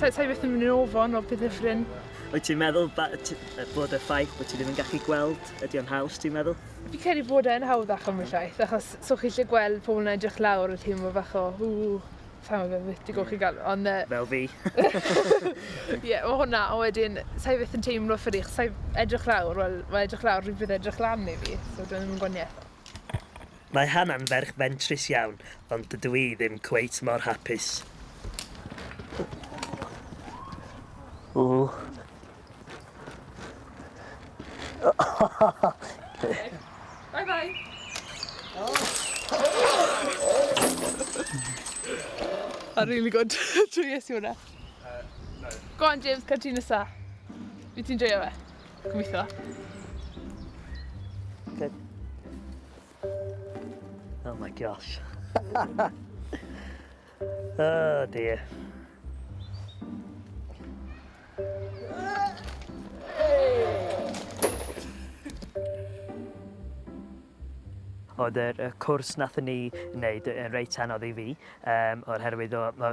Ta, ta i beth yn mynd i'n ofon o bydd hyffrin. Wyt ti'n meddwl bod y ffaith bod ti ddim yn gallu gweld ydy o'n haws, ti'n meddwl? Fi credu bod e'n hawdd ac am y llaeth, achos so chi lle gweld pobl yn edrych lawr y teimlo bach o, ww, sa'n gwybod beth ti'n golchi gael, ond... Uh... Fel fi. Ie, yeah, o hwnna, a wedyn, sa'i beth yn teimlo ffyrig, sa'i edrych lawr, wel, mae edrych lawr rhywbeth edrych lan i fi, so dwi'n ddim yn gwaniaeth. Mae Hannah'n ferch fentrus iawn, ond dydw i ddim cweit mor hapus. Ww. Bye bye. A really good. Trwy es i hwnna. Go on James, cael ti nesa. Fi ti'n joio fe? Gobeithio. Good. Oh my gosh. oh dear. Oedd yr y cwrs nathon ni wneud yn reit anodd i fi, um, o'r herwydd o, o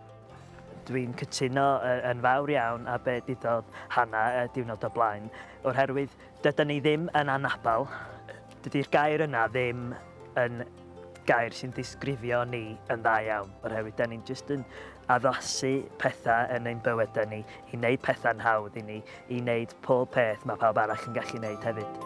Dwi'n cytuno yn fawr iawn a be ddudodd Hanna y diwrnod o blaen, o'r herwydd dyda ni ddim yn anabal, dydy'r gair yna ddim yn gair sy'n disgrifio ni yn dda iawn, o'r herwydd da ni'n just yn addasu pethau yn ein bywydau ni, i wneud pethau'n hawdd i ni, i wneud pob peth mae pawb arall yn gallu wneud hefyd.